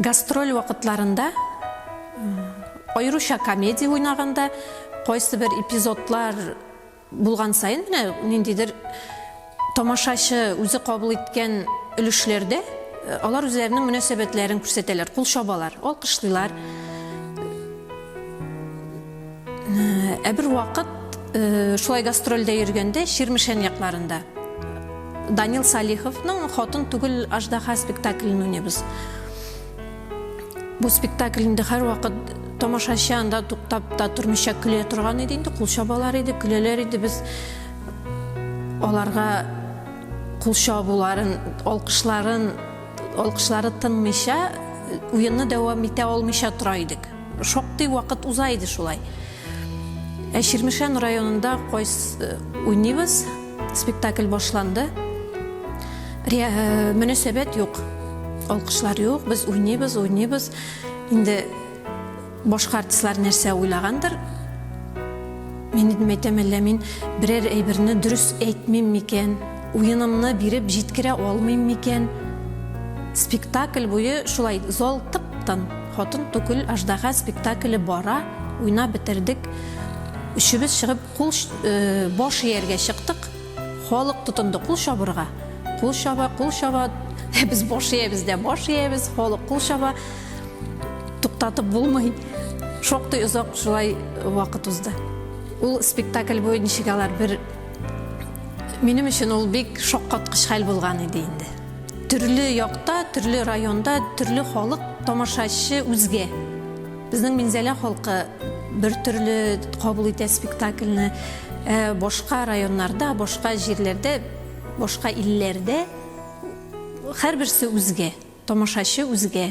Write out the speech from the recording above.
Гастроль вакытларында, аеруча комедия уйнаганда, кайсыбер эпизодлар булган саен, менә ниндидер тамашачы үзе кабул иткән өлешләрдә алар үзләренең мөнәсәбәтләрен күрсәтәләр, кул чабалар, алкышлыйлар. Ә бер вакыт шулай гастрольдә йөргәндә Чирмешән якларында Данил Салиховның Хатын түгел аждаха спектаклен уйныйбыз. Бу спектакль инде һәрвакыт тамашачы анда туктап та тормыйча көлә торган иде инде, кул чабалар иде, көләләр иде. Без аларга кул чабуларын, алкышларын, алкышлары тынмыйча уенны дәвам итә алмыйча тора идек. Шактый вакыт уза иде шулай. Ә Чирмешән районында кайс э, уйныйбыз, спектакль башланды. Ре- э, Мөнәсәбәт юк, алкышлар юк, без уйныйбыз, уйныйбыз. Инде башка артистлар нәрсә уйлагандыр. Мин идем әйтәм, әллә мин берәр әйберне дөрес әйтмим микән? Уенымны биреп җиткерә алмыйм микән? Спектакль буе шулай зал тып-тын. Хатын түгел аждаһа спектакле бара, уйнап бетердек. Өчебез чыгып кул баш ияргә чыктык. Халык тотынды кул чабырга. Кул чаба, кул чаба. Без баш иябез дә баш иябез, халык кул чаба. Туктатып булмый. Шактый озак шулай вакыт узды. Ул спектакль буе ничек алар бер Минем өчен ул бик шаккаткыч хәл булган иде инде. Төрле якта, төрле районда, төрле халык, тамашачы үзгә. Безнең Минзәлә халкы бер төрле кабул итә спектакльне. Ә башка районнарда, башка җирләрдә, башка илләрдә һәрберсе үзгә, тамашачы үзгә.